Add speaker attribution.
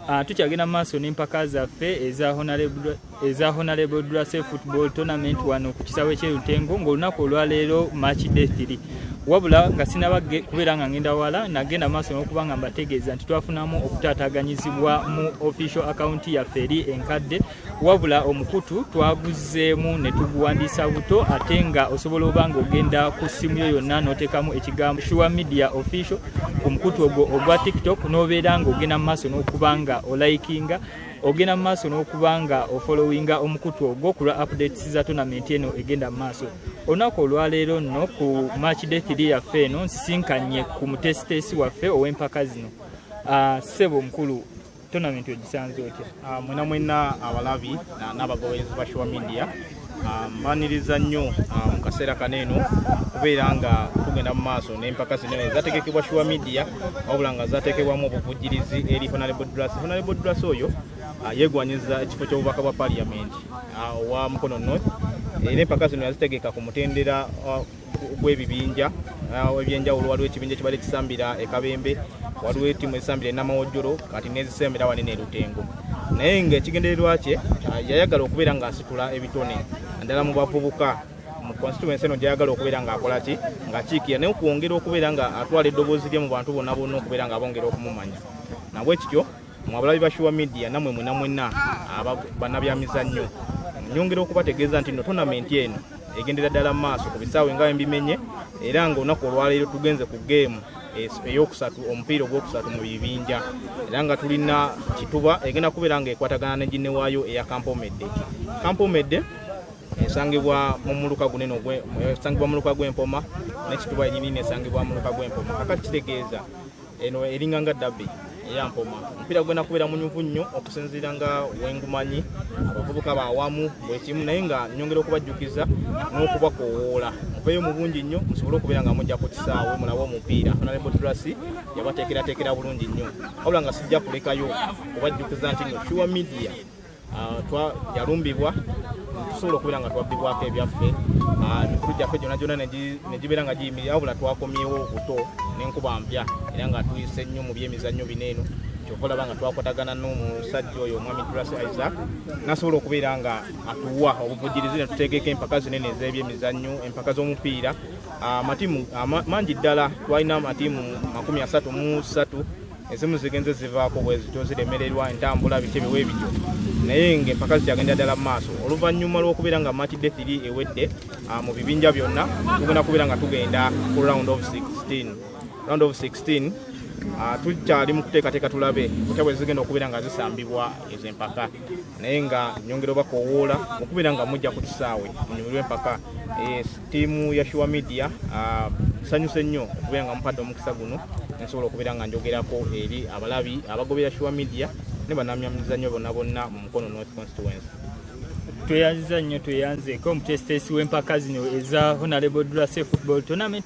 Speaker 1: Ah, tukyagenda mu maaso n'empaka zaffe eza honarable drase football tournament wano ku kisawe kyerutengo ng'olunaku olwaleero march day 3 wabula nga sinaba kubeera nga ngenda wala nagenda maaso n'okuba nga mbategeeza nti twafunamu okutaataganyizibwa mu official akawunti yaffe eri enkadde wabula omukutu twaguzzeemu ne tuguwandiisa buto ate nga osobola oba nga ogenda ku ssimu yo yonna n'oteekamu ekigambo shuwa media official ku mukutu ogwo ogwa tiktok n'obeera nga ogenda mu maaso n'okuba nga olayikinga ogenda mu maaso n'okuba nga ofolowinga omukutu ogwo ku lwa updates za tonamenti eno egenda mu maaso olunaku olwaleero nno ku match day 3 yaffe eno nsisinkanye ku mutesiteesi waffe ow'empaka zino ah, ssebo omukulu Tournament ogisanze otya? Ah, mwena mwena abalabi
Speaker 2: n'abagoberezi ba Shuwa Media ah, mbaniriza nnyo ah, mu kaseera kano eno okubeera nga tugenda mu maaso n'empaka zino ezategekebwa Shuwa Media wabula nga zateekebwamu obuvujjirizi eri Honorable Drasi. Honorable Drasi oyo yegwanyiza ekifo ky'obubaka bwa Parliament owa Mukono North era empaka zino yazitegeka ku mutendera gw'ebibinja uh, ebyenjawulo waliwo ekibinja kibadde kisambira ekabembe waliwo etimu esambira enamawojjolo kati nezisembera wali nerutengo naye nga ekigendererwa kye uh, yayagala okubeera ng'asitula ebitone naddala mu bavubuka mu constituency eno gyayagala okubeera ng'akola ki ng'akiikira naye okwongera okubeera ng'atwala eddoboozi lye mu bantu bonna bonna okubeera ng'abongera okumumanya nabwekityo mwabalabi ba shuwa media namwe mwena mwena banabyamizannyo nyongera okubategeeza nti no tonamenti eno egendera ddala maaso ku bisaawe nga embimenye era nga olunaku olwaleero tugenze ku geemu eyokusatu omupiira ogwokusatu mu bibinja era nga tulina kituba egenda kubeera nga ekwatagana ne ginne waayo eya kampomedde kampomedde esangibwa mu muluka gunene esangibwa muluka gw'empoma nekituba enyini nesangibwa muluka gw'empoma kakati kitegeeza eno eringa nga dabi eyampoma omupiira gwena kubeera munyuvu nnyo okusinziira nga wengumanyi abavubuka bawamu bwekimu naye nga nyongera okubajjukiza n'okubakowoola muveeyo mu bungi nnyo musobole okubeera nga mujja ku kisaawe mulabe omupiira nalebodrasi yabateekerateekera bulungi nnyo wabula nga sijja kulekayo kubajjukiza nti no sure media ah, yalumbibwa tusobola okubeera nga twabbibwako ebyaffe ah, emikulu gyaffe gyona gyona negibeera nga giyimirira wabula twakomyewo obuto nenkuba mpya era nga tuyise nnyo mu byemizannyo bino eno kyova olaba nga twakwatagana n'omusajja oyo omwami dulas isaac nasobola okubeera nga atuwa obuvujirizi netuteekeko empaka zinene ez'ebyemizannyo empaka z'omupiira ah, amatiimu mangi ddala twalina amatiimu makumi asatu mu satu ezimu zigenze zivaako bwezityo ziremererwa entambula biki ebiwa ebityo naye ngaempaka zikyagenda ddala mu maaso oluvannyuma lw'okubeera nga mati de thiri ewedde ah, mu bibinja byonna tugenda kubeera nga tugenda ku round of 16 round of 16 ah, tukyali mu kuteekateeka tulabe kutya bwe zigenda okubeera nga zisambibwa ezo empaka naye nga nyongera oba kowoola mukubira nga mujja ku kisaawe munyumirwa empaka eh, tiimu ya shuwa media ah, sanyuse nnyo okubera nga mupadde omukisa guno nsobola okubeera nga njogerako eri abalabi abagobera shuwa media ne banamyamizanyo bonna bonna mu mukono north constituency
Speaker 1: tweyanziza nnyo tweyanzeeko omutesiteesi w'empaka zino eza honalable drase football tournament